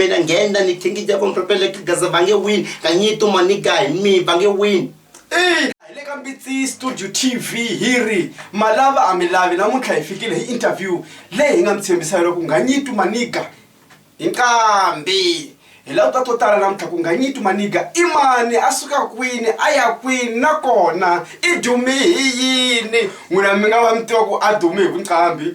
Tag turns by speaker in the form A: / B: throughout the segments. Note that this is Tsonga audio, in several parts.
A: Pena ngenda ni thingi ja vomhlo pele ka gaza bange win ka nyitu mani guy mi bange win Hey! Hi le ka Mbitsi Studio TV hi ri ma lava a mi lavi namuntlha hi fikile hi interview leyi hi nga mi tshembisa yona ku nga nyitu maniga hi nqambi hi lava ta to tala namuntlha ku nga nyitu maniga i mani a suka kwini a ya kwini nakona i dumi hi yini n'wina mi nga va mi tiva ku a dumi hi vunqambi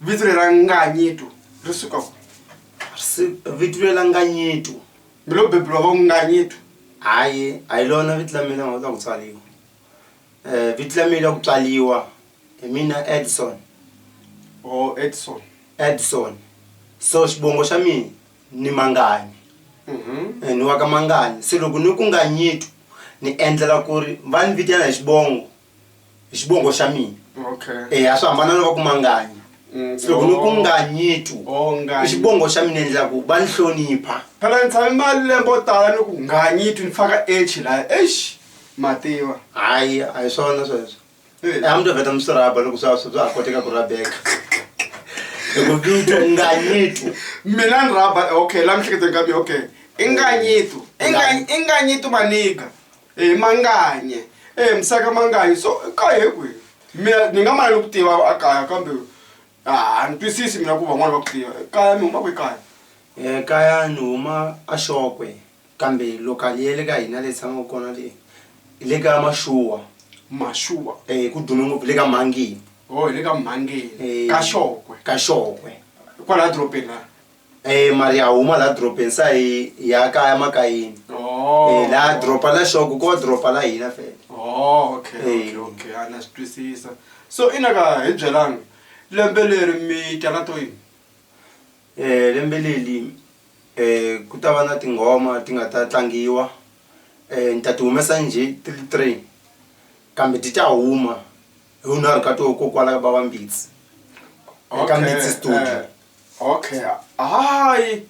A: Vito leri ra Nganyitu ri suka ku si vito leri ra Nganyitu mi lo beburiwa va Nganyitu hayi a hi lona vito la mina ta ku tswariwa um vito la mina ku tswariwa hi mina Edson or Edson Edson so xivongo xa mina ni Manganyi ni wa ka Manganyi se loko ni ku Nganyitu ni endlela ku ri va ni vitana hi xivongo. hi xivongo xa mina okay eh a swi hambana na va ku manganya Mm, se loko ni ku oh. nganyitu Oh, Nganyi. i xivongo xa mina endla ku va ni hlonipha phela ni tshame mali lembe o tala ni ku nganyitu ni faka h laya eish mativa hayi a hi swona sweswo Eh. Eh, a mi to vheta mi swi rhaba loko swa swa ha koteka ku rabeka loko vito nganyitu mina ni rhaba okay la mihleketo ka mina okay i nganyitu I nga- i nganyitu maniga e manganye e musaka manganye so ka he kwi mina ni nga mala ni ku tiva a kaya kambe a ni twisisi mina ku van'wani va ku tiva kaya mi huma kwi kaya um kaya ni huma a xokwe kambe lokali ya le ka hina leyi tshamaka kona leyi hi le ka maxuwa maxuwa um ku dume ngopfu le ka mhangeni o hi le ka mhangeni ka xokwe ka xokwe kwalaya dorobeni laya Eh mali ya huma la dropeni sa hi ya kaya makayini oh. eh, la dropa la shoko ko dropa la hina fela oh, okay, eh. okay, okay. ana swi twisisa so i na ka hi byelanga lembe leri mi tana to yini eh lembe leli eh ku ta va na tinghoma ti nga ta tlangiwa eh ni ta ti humesa nje ti ri three kambe ti ta huma hi unharhu ka to ko kwala ka babambitsi eka mbitsi studio eh. okay hayi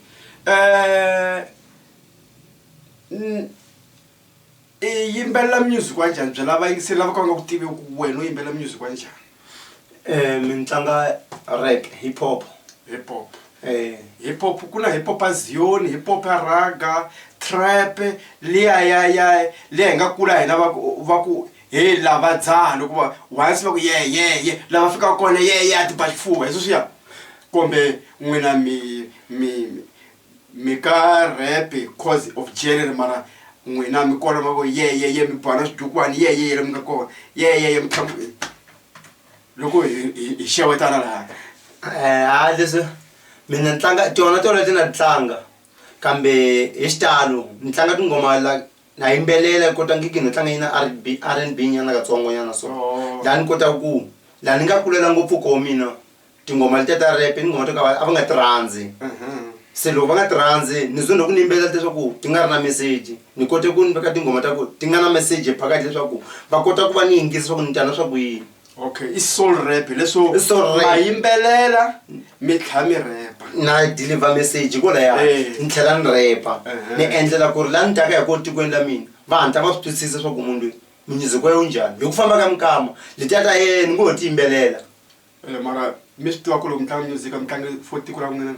A: um i yimbelela music wa njhani bya lava yingiseli lava ka va nga ku tivi ku wena u yimbelela music wa njhani um mi ni tlanga rek hip hop hip hop um hip hop ku na hip hop a zion hip hop a raga trap liya ya ya liya hi nga kula hina va ku va ku Hey lava dzaha loko va once va ku ye ye ye lava fikaka kona ye ye a ti ba xifuva hi sweswiya kumbe n'wina mi mi mi ka rap cause of jelly mara n'wina mi kona va ku ye ye ye mi ba na swidukwani ye ye ye la mi nga kona ye ye ye mi tlhela mi loko hi hi hi xewetana laya ha leswi mina ni tlanga tona tona leti na ti tlanga kambe hi xitalo ni tlanga tinghoma la. na yimbelela kota ngiki no tlanga yina rb r and b nyana katsongo nyana so oh. la ni kota ku la ni nga kulela ngopfu koho mina tinghoma letiya ta rep i tinghoma to ka a va nga ti rhandzi mhm. se loko va nga ti rhandzi ni zwe loku ni yimbelela leswaku ti nga ri na meseji ni kote ku ni veka tinghoma ta ku ti nga na meseji phakathi leswaku va kota ku va ni yingisa swa ku ni tana swa ku yini okay i soul rap leswo I soul rap. ma yimbelela mi tlha mi repa na deliver message ko laya Eh. ni tlhela ni repa Uh-huh. ni endlela ku ri la ni taka hi ko tikweni la mina va hatla va swi twisisa swa ku munhu loyi music wa yo njhani hi ku famba ka minkama letiya ta yena ni ngo ho ti yimbelela Eh, mara mi swi tiva ku loko mi tlanga music mi tlange for tiko ra n'wina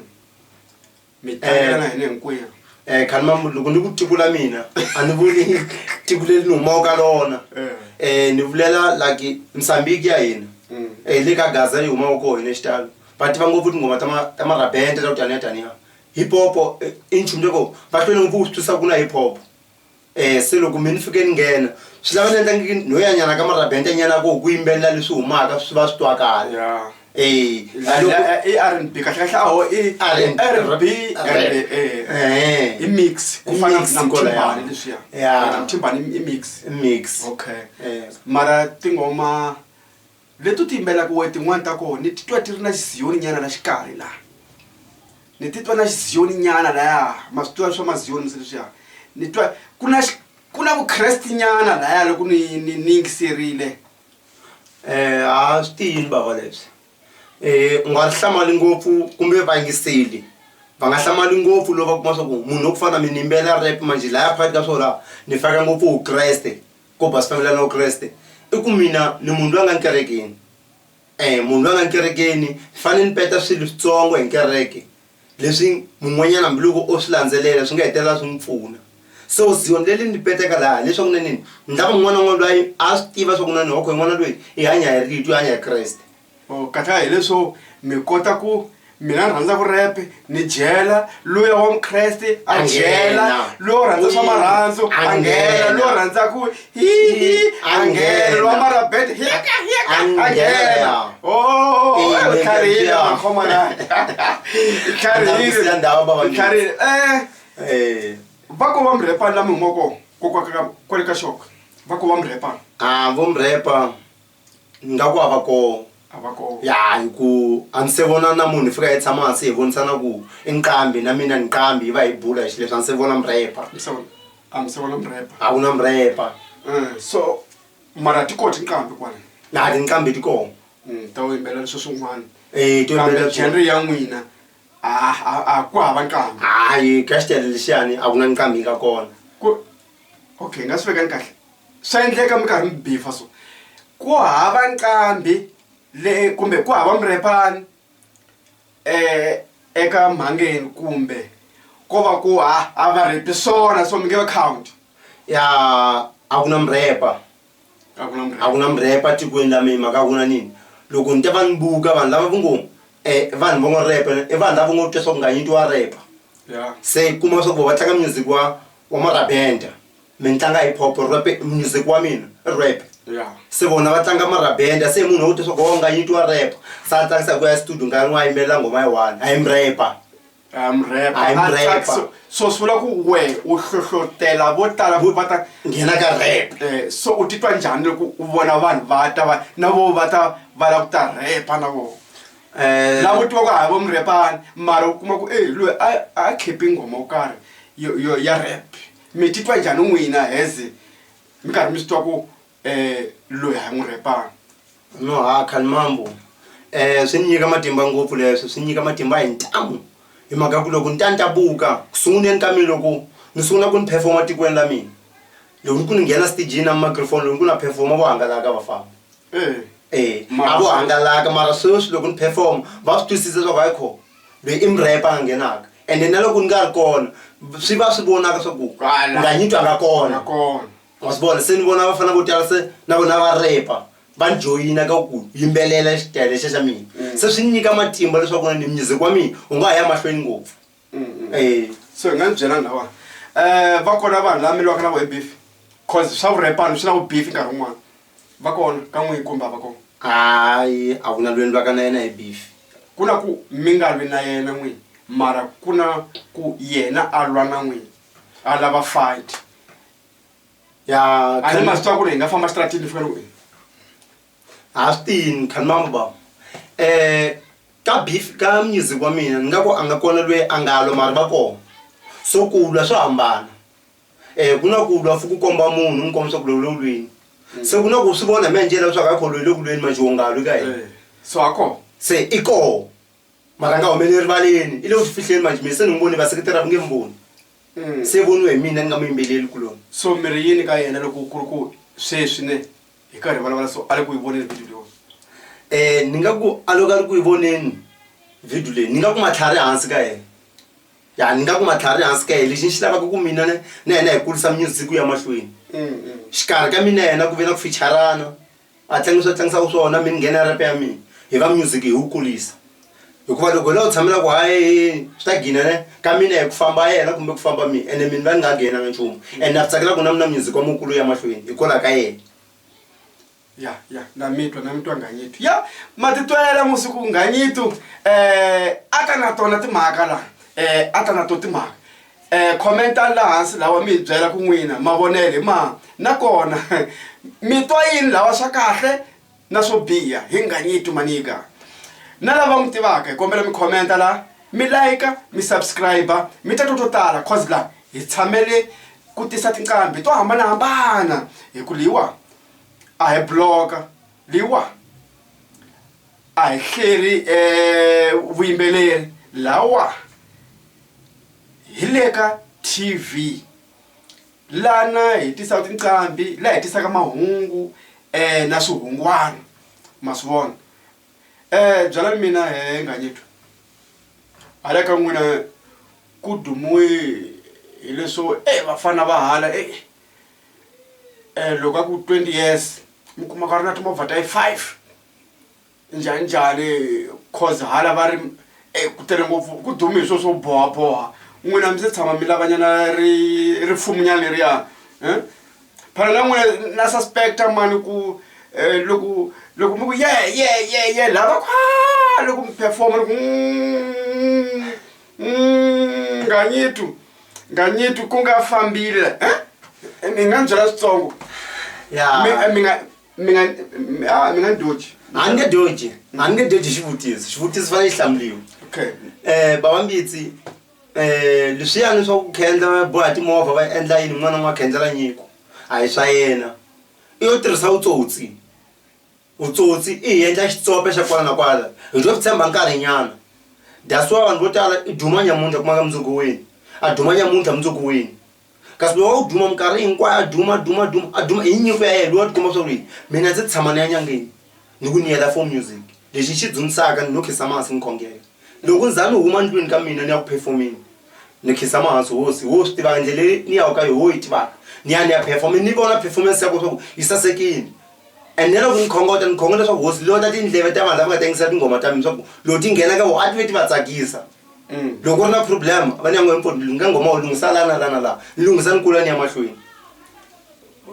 A: mi tayana hina hinkwerhu um khani mamu loko ni ku tiko la mina a ni vuli tiko leri ni humaka ka lona um ni vulela like msambiki ya hina um le ka gaza yi humaka koho hina xitalo va tiva ngopfu tinghoma ta marabente ta ku taniya taniya hip hopo i nchumu loko va hlwele ngopfu ku swi twisisa ku na hip hopo um se loko mi ni fike ni nghena swi lava ni endla no ya nyana ka marabente nyana ku ku yimbelela leswi humaka swi va swi twakala e r n b kahlekahle aho i r n r b i mix ku fana namtimbani leswiya namtimbani i mix mix okay mara tingoma leti u ti yimbelaka wehe tin'wani ta kona ni titwa ti ri na xiziyoni nyana la xikarhi laha ni titwa na xiziyoni nyana laya ma swi tiva swa maziyoni mi se leswiya ni twa ku na ku na vukreste nyana laya loko ni ni ni yingiserile um ha swi tiyini bava leswi um u nga ri hlamali ngopfu kumbe vayingiseli va nga hlamali ngopfu lowu va kuma swa ku munhu wa ku fana na mina ni yimbelela rap manjhe laya phakathi ka swona ni faka ngopfu vukreste. Ku ba switamela na Vukreste i ku mina ni munhu loyi a nga ni kerekeni um munhu loyi a nga ni kerekeni ni fanele ni peta swilo switsongo hi kereke leswi mun'wanyana hambiloko o swi landzelela swi nga hetelela swi n'wi pfuna so zion le li ni petaka laha leswaku na nini ni lava un'wana na un'wana lwayi a swi tiva swa ku na ni wa ku hi n'wana lweyi i hanya hi rito i hanya hi Kreste. or kahlula hileswo mi kota ku mina ni rhandza vurepe ni dyela luya wa mukreste a dyela lowo rhandza swa marhandzu a nghena lowo rhandza ku hihi a nghena lowa marabete hika hika a nghena otlharihilekharihile vako va murepani lami humoko kokwaka kwale ka xoko vako va murepani a vo murepa ni nga ku a va kona a va kona ya hi ku a ni se vona na munhu hi fika hi tshama hansi hi vonisana ku i nqambi na mina ni nqambi hi va hi bula hi xileswi a ni se vona murepa mi se vona a mi se vona murepa a ku na murepa Eh, so mara ti koti nqambi kwani na tinqambi ti kona Mm, ta wu yimbelela leswi swin'wana Eh, to kambe yimbelela genre ya n'wina a a- a ku hava nqambi hayi ka xitele lexiyani a ku na nqambi yi nga kona Ku- okay nga swi vekani kahle swa endleka mi karhi mi bifa so ku hava nqambi le kumbe ku hava murepani um eka mhangeni kumbe ko va ku a va repi swona so mi nge va count ya a ku na murepa a ku na mrepa tikweni la mina mhaka ku na nini loko ni ta va ni buka vanhu lava ku ngo um eh, vanhu va ngo repa i vanhu lava ngo twa swa ku nga nyiti wa repa se kuma swa ku va tlanga music wa wa marabenda mi ni tlanga hip hop rap music wa mina rap se vona va tlanga marabenda se munhu wo twa swa ku wa nga nyiti wa repa sa ni tlangisa ku ya studio nkarhi n'wi a yimbelela nghoma yi one a yi mrepa so swi vula ku we u hlohlotela vo tala vo va ta nghena ka rep eh, so u titwa njhani loko u vona vanhu va ta va na vo va ta va lava ku ta repa na vona Eh, lavo tiva ku hava vo murepani mara u kuma ku e loyi a khipi nghoma wo karhi ya rap mi titwa njhani n'wina heze mi karhi mi swi twa ku eh, loyi ha n'wi rhepana no ha khani mambo um eh, swi ni nyika matimba ngopfu leswi swi nyika matimba hi ntamu hi mhaka ku loko ni ta ni ta buka ku sunguleni ka mina loko ni sungula ku ni performa tikweni la mina loko ni ku ni nghena stijini na microphone loko ni ku na performa vo hangalaka vafambi eh. e a vo hangalaka mara sweswi loko ni performa va swi twisisa leswaku hayi kho loyi i murhepa a nga nghenaka ende na loko ni nga ri kona swi va swi vonaka swa ku nga nyitwa nga kona ma swi vona se ni vona vafana vo tala se na vona va repa va ni joyina ka ku yimbelela xitele xe xa mina mm. se swi ni nyika matimba leswaku na ni music wa mina u nga ha ya mahlweni ngopfu mm, mm. e so hi nga ni byela lawa um eh, va kona vanhu lava miliwaka na vo hi beef cause swa vurepani swi na vu beef nkarhi wun'wana va kona ka n'wihi kumbe a va kona hayi a ku na lweni lwaka na yena hi beef ku na ku mi nga lwi na yena n'wini mara ku na ku yena a lwa na n'wini a lava fight ya ani mazita akule ingafamba stratini fika loko astin khan mama ba eh ka beef ka music wa mina ni nga ku a nga kona lweyi a nga lwa mari va kona so ku lwa swo hambana um ku na ku lwa fuku komba munhu n'wi komba swa ku lowu lowu lweni mm. se ku na ku swi vona mi ya njela leswaku a kho lweyi loku lweni manjiongalwi ka hina eh, so a kona se i kona mara a nga humeli erivaleni i le ku swi fihleni manje mina se ni n'wi voni vaseketeri a va nge mi voni Mm. se voniwe hi mina ni nga mu yimbeleli kuloni so mi ri yini ka yena loko ku ri ku sweswi ne hi karhi hi vulavula so a le ku yi voneni video leyiwa um ni nga ku a loko a ri ku yi voneni video leyi ni nga ku matlhari hansi ka yena ya ni nga ku matlhari hansi ka yena lexi ni xi lavaka ku mina ne na yena hi kurisa music ya mahlweni Mm, mm. xikarhi ka mina yena ku ve na ku ficharana a tlangisa tlangisa ku swona mi nghena rap ya mina hi va music hi wu kulisa hikuva loko la u tshamela ku hayi swi ta gina ne ka mina hi ku famba yena kumbe ku famba mina ene mina va ni nga nghena na nchumu and na tsakela ku na mina music wa mukulu ya mahlweni hi kola ka yena ya ya na mitwa na mitwa nganyitu ya matitwela musiku nganyitu um a ta na tona timhaka laha um a ta na to timhaka um khomentani laha hansi lawa mi hi byela ku n'wina mavonelo hi ma nakona mi twa yini lawa swa kahle na swo biha hi nganyiti manika na lava n'wi tivaka hi kombela mi khomenta laha mi layika mi subscribe mi ta twa to tala cause laha hi tshamele ku tisa tinqambi to hambanahambana hi ku leyiwa a hi bloka leyiwa a hi hleri um vuyimbeleri lawa hi le ka tv lana hi tisaka tinqambi laha hi tisaka mahungu um na swihungwana ma swi vona um byala ni mina he nganyetwa hala ka n'wina ku dumiwe hileswo e vafana va hala e um loko a ku twenty years mi kuma ka ri na timovha ta yi five njhani njhani cause hala va ri e ku tele ngopfu ku dume hi swo swo bohaboha n'wina mi se tshama mi lavanyana ri rifumunyana leriya um phana na n'wina na suspecta mani ku um loko loko mi ku ye ye ye ye lava kha loko mi performa loko nganyitu nganyitu ku nga fambile um mi nga ni byela switsongo mi nga mi nga mi- ah, mi nga doji a ni nge doji a ni nge doji xivutiso xivutiso fanele xi hlamuriwa okay um bava mbitsi um leswiyani swa ku khendla va boha timovha va endla yini n'wana n'wa khendlela nyiko a hi swa yena i yo tirhisa vutsotsi vutsotsi i hi endla xitsope xa kwala na kwala hi to swi tshemba nkarhinyana that's why vanhu vo tala i duma nyamuntlha kumaka mundzuku wini a duma nyamuntlha mundzuku wini kasi loyi wa ku duma minkarhi hinkwayo a duma duma duma a duma hi nyiko ya yena loyi wa tikuma swa ku ri mina ndzi tshama ni ya nyangeni ni ku ni yela for music lexi ni xi dzundzisaka ni no khiza masi ni khongela loko ni za ni huma ndlwini ka mina ni ya ku perform-eni ni khiza mahansi hosi wo swi tivaka ndlela leyi ni yaka ka yoho wo yi tivaka ni ya ni ya perform-a ni vona performance ya ko swa ku yi sasekini and na loko ni khongota ni khonge leswaku hosi loyi ta tindleve ta vanhu lava nga ta yingisa tinghoma ta mina swa ku loko ti nghena ka vona a ti ve ti va tsakisa. mm. loko u ri na problem va nyango mpfo lunga ngoma u lunghisa lana lana laha ni lunghisa ni kula ni ya mahlweni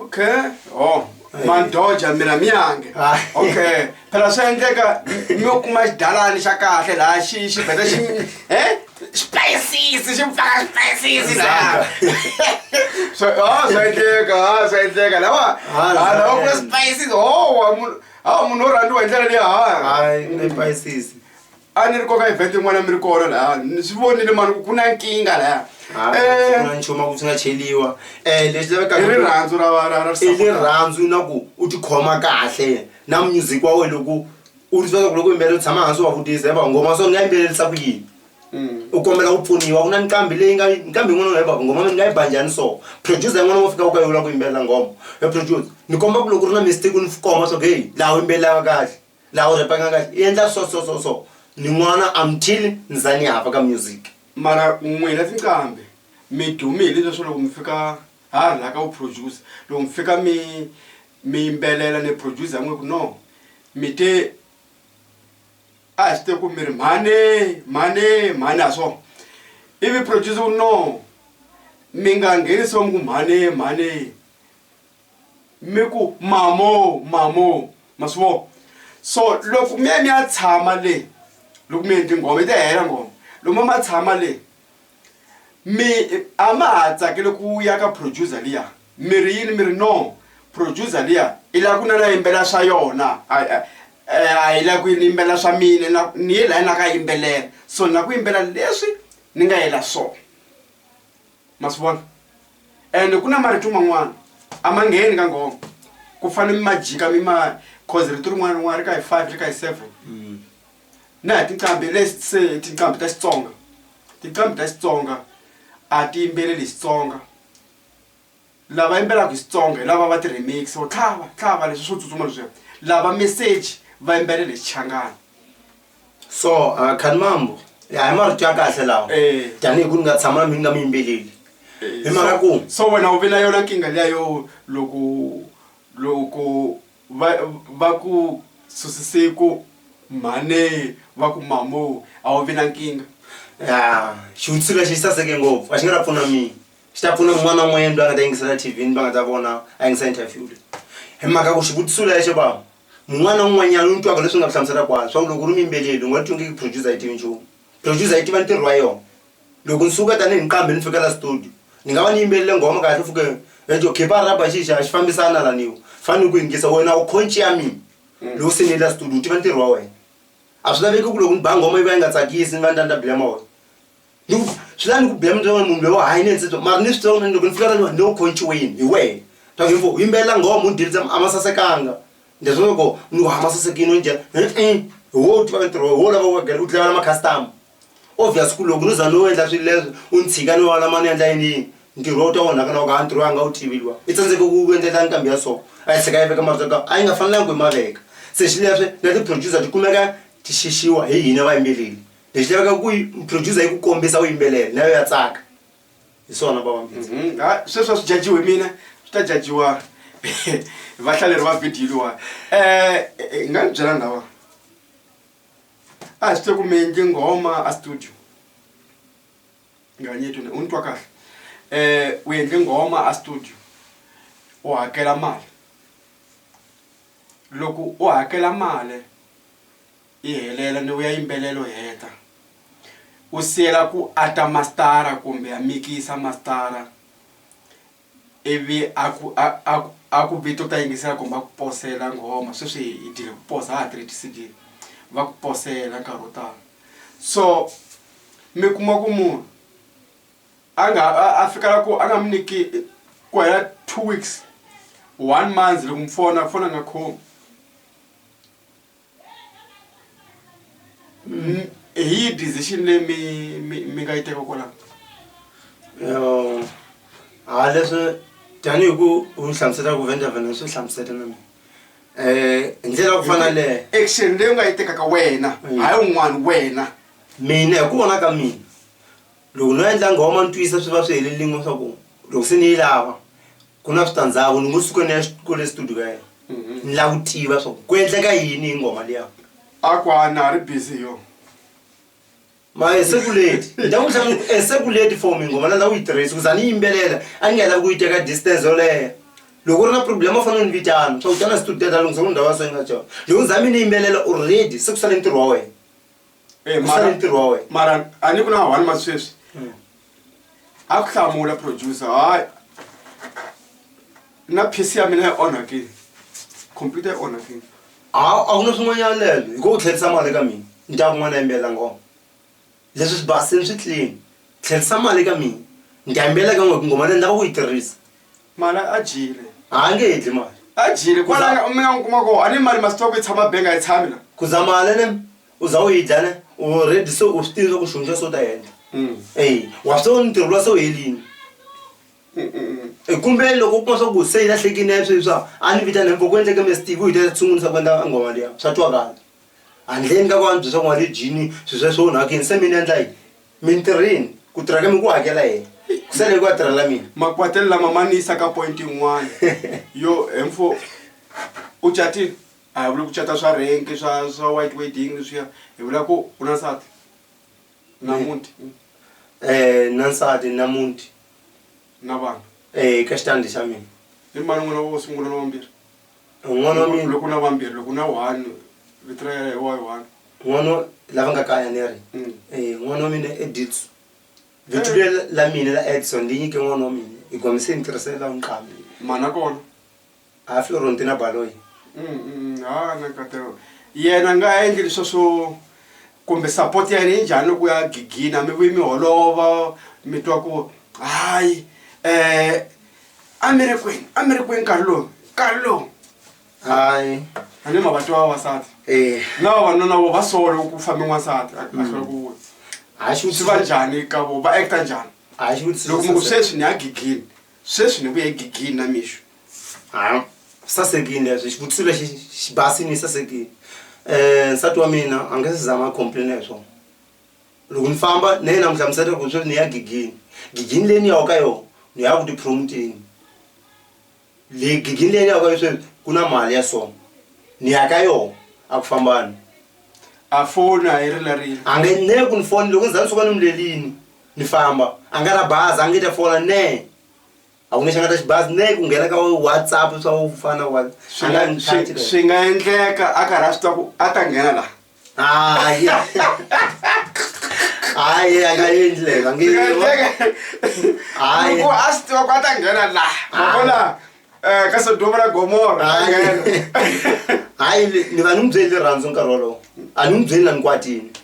A: okay oh mandoja mira miyange ah. okay phela swi endleka mi yo kuma xidalani xa kahle laha xi xi beta xi e xipayisisi xi pfaka xipayisisi laha swa endleka a swa endleka lawa lawa kula swipayisisi howa munhu a munhu wo rhandziwa hi ndlela leyi hayi a ni ri koka evhete yin'wana mi ri kona laya ni swi vonile mani ku ku na nkingha laya Ah, eh, na nchumu a ku swi nga cheliwa um leswi lavekaka i rirhandzu ra ra ra i rirhandzu na ku u tikhoma kahle na music wa wena loko u ri swaku loko yimbelela u tshama hansi wa vutisa hi va nghoma so ni nga yimbelelisa ku yini mm. u kombela ku pfuniwa ku na nqambi leyi nga nqambi yin'wana nga yi vava nghoma mi ni nga yi banjhani so producer yin'wana wo fika u ka yivula ku yimbelela nghoma e producer ni komba ku loko u ri na mistake u ni koma swa ku heyi laha u yimbelelaka kahle la o repanga ka e endla so so so so ni n'wana until ni za ni hava ka music mara n'wina tinqambi mi dume hi leswi swa loko mi fika ha ri laha ka vuproducer loko mi fika mi mi yimbelela ni producer n'we ku no mi te a hi swi te ku mi ri mhani mhani mhani ha swona ivi producer ku no mi nga nghenisiwa mi ku mhani mhani mi ku mamo mamo ma swi vona so loko mi ya mi ya tshama le loko mi endli nghoma yi ta hela nghoma loko ma ma tshama le mi a ma ha tsakele ku ya ka producer liya mi ri yini mi ri no producer liya i lava ku na na yimbelela swa yona a hi lava ku yini yimbelela swa mina na ni ye laya na ka yimbelela so na ku yimbelela leswi ni nga yela swona. ma swi vona ende ku na marito man'wana a ma ngheni ka nghoma ku fane mi ma jika mi ma cause rito rin'wana rin'wana ri ka hi five ri ka hi seven mm. na hi tinqambi lese tinqambi ta xitsonga tinqambi ta xitsonga a ti yimbeleli xitsonga lava yimbelaka hi Xitsonga hi lava va ti remix or tlhava tlhava leswi swo tsutsuma leswiya lava message va yimbelela hi Xichangani so uh, khani mambo ya hi marito ya kahle lawa Eh. tanihi ku ni nga tshama mi nga mi yimbeleli hi mhaka ku so wena u vi na yona nkingha liya yo loko loko va va ku susisiku mhane va ku mamo a wu vi na nkingha ya xivutiso lexi xi saseke ngopfu a xi nga ta pfuna mina swi ta pfuna un'wana na un'wanyana loyi a nga ta yingisela tv ni va nga ta vona a yingisa interview leyi hi mhaka ku xivutiso lexo va mun'wana na un'wanyana u twaka leswi nga ku hlamusela kwalo swa ku loko u ri miyimbeleli u nga twingiki producer yi tivi nchumu producer yi tiva ntirho wa yona loko ni suka tanihi nqambi ni fikela studio ni nga va ni yimbelele nghoma kahle fuke eto khipa rhaba xixa a xi fambisana laniwa fane ni ku yingisa wena u khonci ya mina mm. loko se ni yela studio u tiva ntirho wa wena a swi laveki ku loko ni ba nghoma yi va yi nga tsakisi ni va ni ta ni ta bilema wena ni ku swi lava ni ku biya mintlawa munhu loyi wa hayi ni endsetso mara ni swi tiva ku loko ni fika ka ni ni ku khonciweni hi wena ta ku u yimbelela nghoma u ni dyelisa a ma sasekanga leswi loko ni ku hama sasekile u ni dyela hi wo u tivaka ntirho wa wena hi wo lava u dlayela ma-customer obvious ku loko no za no endla swilo leswo u ni tshika ni wena ma ni endla yiniyini ntirho lowu ta onhaka na loko a ntirho a nga wu tivi luwa i tsandzeke ku ku endlela nqambi ya so a yi tlhela yi veka marito ka a yi nga fanelanga ku yi ma veka se xileswi na ti-producer ti kumeka ti xixiwa hi hina vayimbeleri. lexi laveka ku producer yi ku kombisa u yimbelela nayo ya tsaka hi swona vavambindzi mhm. ah, sweswi a swi jajiwe mina swi ta jajiwa vahlaleri va vhidiyo liwa um eh, eh, eh, nga ni byela ndhawa a hi swi te ku mi endli nghoma a studio nganyetune u ni twa kahle um u endli nghoma a studio u hakela mali loko u hakela mali yi helela ni vuya yimbelelo heta u siyela ku ata mastara kumbe a mikisa mastara ivi a ku a a a ku vito ta yingisela kumbe a ku posela nghoma sweswi hi dyile ku posa a ha tirhi ti-cd va ku posela nkarhi wo tala so mi kuma ku munhu a nga a fikela ku a nga mi nyiki ku hela two weeks one month loko mi fona fona a nga khomi N- hi yihi decision leyi mi mi mi nga yi teka kwalaho Um, ha leswi tanihi ku u ni hlamuselaka ku vendavha ni swi hlamusela na mina um hi ndlela ya ku fana leyo action leyi u nga yi tekaka wena Mm. hayi un'wana wena mina hi ku vona ka mina loko no endla nghoma ni twisa swi va swi helelingo swa ku loko se ni yi lava ku na switandzhaku ni ngo suka ni ya kule studio ka yena ni lava ku tiva swa ku ku endleka yini hi ngoma liya a ku a na ri busy yo ma esekuleti ni ta ku hlamu esekuleti for mi ngoma na la u yi tirhisa kuza ni yimbelela a ni nga lavi ku yi teka distance yoleya loko u ri na problem u fanele ni vitana swa ku tana studio ta lunghisa ku ndhawu ya so yi nga tsona loko ni za mi ni yimbelela already se ku sale ntirho wa wena Eh, mara- Usale ntirho wa wena. mara a ni ku na one month sweswi a ku hlamula producer hayi na pc ya mina yi onhakile computer yi onhakile a a ku na swin'wanyana lelo hi ko u tlherisa mali ka mina ni ta kun'wana yimbela ngoma leswi swi basini swi clean tlherisa mali ka mina ni ta yimbela ka n'we ku ngoma leyi ni lava ku yi tirhisa mali a dyile a nge hidli mali a dyile kwalana mi nga n'wi kuma kona a ni mali masitoko yi tshama benga yi tshami la ku za mali ne u za u yi dya ne u ready so u swi tivi swa ku xihundza so ta endla e wa swi ni ntirho lwa so helini kumbe loko u kuma swa ku se yi lahlekini ya sweswi swa a ni vitana mpfo ku endleke mestivi u yi ta sungulisa ku endla nghoma liya swa twakala handleni ka ku antswi swa ku n'wana jini swilo sweswo onhakini se mi ni endla yini mintirhini ku tirha ka mi ku hakela yena ku sele hi ku a tirhela mina makwatela lama ma ni yisa ka point yin'wana yo he mpfo u catile a hi vuli ku cata swa renki swa swa white wedding leswiya hi vula ku u na nsati na Eh. muti um na nsati na muti na vana um ka xitandi xa mina i mani n'wana wo sungula na wambirhi n'wana wa mina loko u na vambirhi loko u na one vito ra yena hi wa one n'wana wa- lava nga kaya ni ri Mm. Eh, n'wana wa mina editso vito Eh. leri la mina la edson ndi nyike n'wana wa mina hi kombise ni tirhisela nqambi mhana kona a fi ronti na baloyi ha na katelo yena nga ha endli leswa swo kumbe support ya yena yi njhani loko ya gigina mi vuyi mi holova mi twa ku hayi um a mi ri kwini a mi ri kwini nkarhi lowu nkarhi lowu hayi a ni mavati wa vavasati um na vavanuna vo va solo ku fambe n'wansati a hlula ku vula hayi swi va njhani ka vo va acta njhani a xi loko mi ku vutisa sweswi ni ya gigini sweswi ni vuye gigini na mixo ha sasekini leswi xivutiso lexi xi basini sasekini um nsati wa mina a nge se zanga complain hi swona loko ni famba na yena n'wi hlamusela ku sweswi ni ya gigini gigini leyi ni yaka ka yona ni ya ku tipromoteni le gigini leyi ni yaka yo sweswi ku na mali ya sona ni ya ka yona a ku fambani a foni a yi rilarile a nge ne ku ni foni loko ni za ni suka ni mi lelini ni famba a nga ra bazi a nge ta fola nee a ku nge xi nga ta xibazi ne ku nghena ka whatsapp swa wu fana wa swi nga swi nga endleka a karhi a swi tiva ku a ta nghena laha hayi hayi a nga endli leswi a nge hayi ku a swi tiva ku a ta nghena laha ma vona um ka sodoma na gomora a nghena hayi ni va ni n'wi byeli rirhandzu nkarhi wolowo a ni n'wi byeli na ni kwatini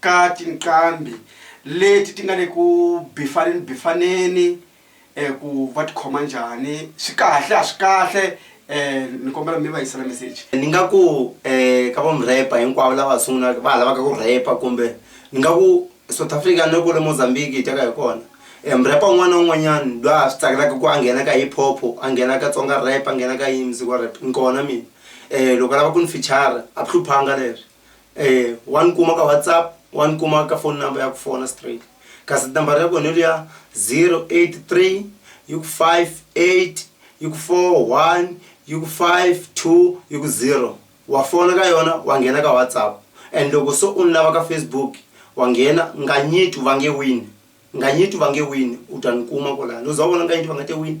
A: ka tinqambi leti ti nga le ku bifaneni bifaneni um ku va tikhoma njhani swi kahle a swi kahle um ni kombela mi va yisela meseji ni nga ku um ka va murhepa hinkwavo lava sungulaka va ha lavaka ku rhepa kumbe ni nga ku south africa ni ri kwale mozambique hi ta ka hi kona um murhepa wun'wana na wun'wanyani loyi a swi tsakelaka ku a nghena ka hip hop a nghena ka tsonga rap a nghena ka yini muziki wa rap ni kona mina um loko a lava ku ni fichara a ku hluphanga leswi eh wa ni kuma ka whatsapp wa ni kuma ka phone number ya ku fona straight kasi nambara ya kona liya 083 yi ku 58 yi ku 41 yi ku 52 yi ku 0 wa fona ka yona wa nghena ka whatsapp and loko so u ni lava ka facebook wa nghena nganyitu va nge wini nganyitu va nge wini u ta ni kuma kwalano u za u vona nganyitu va nga te wini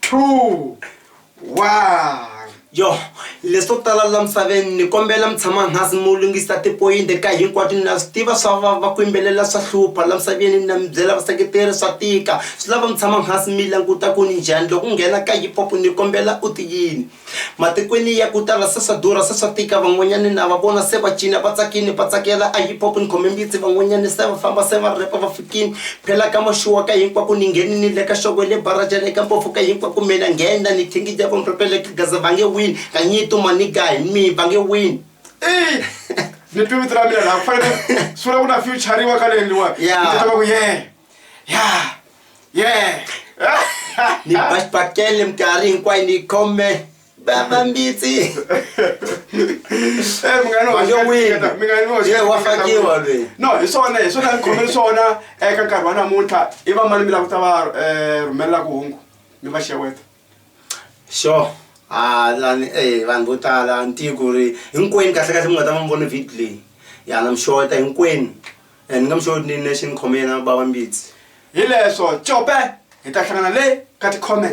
A: two one yo leswo tala la misaveni ni kombela mi tshama hansi mi lunghisa tipoyinti ka hinkwato ni na swi tiva swa vava ku yimbelela swa hlupha la misaveni ni na mi byela vaseketeri swa tika swi lava mi tshama hansi mi languta ku ni njhani loko u nghena ka hip hop ni kombela u ti yini Matikweni ya ku tala se swa durha, se swa tika, van'wanyani na va vona se va cina, va tsakini, va tsakela a hip hop ni khome mbitsi, van'wanyani se va famba se va repa va fikini, phela ka maxuwa ka hinkwaku ni ngheni ni le ka xovo le bara ja le ka mpofu ka hinkwaku me na nghena ni thingija va mrepe le ka gaza va nge wini ka nyito maniga hi mi va nge wini Ey! Ni twi vito ra mina laha ku fanele swi vula ku na future-riwa ka leyi leyiwani. Yeah. Ni titwa nga ku yeah. Yeah. yeah ni baxibakele minkarhi hinkwayo ni khome baba mbitsi eh, wa fakiwa lweyi no hi swona hi swona ni khome swona eka nkarhi wa namuntlha i va mani mi lakuta va um rhumelela ku hungu mi va xeweta Sure a lani e vanhu vo tala ni tivi ku ri hinkwenu kahlekahle mi nga ta va mi vone video leyi ya na mi sure ta hinkwenu and ni nga mi sure ni nexe ni khome yena bava Mbitsi. Hileswo Cope hi ta hlangana le ka ti-comment.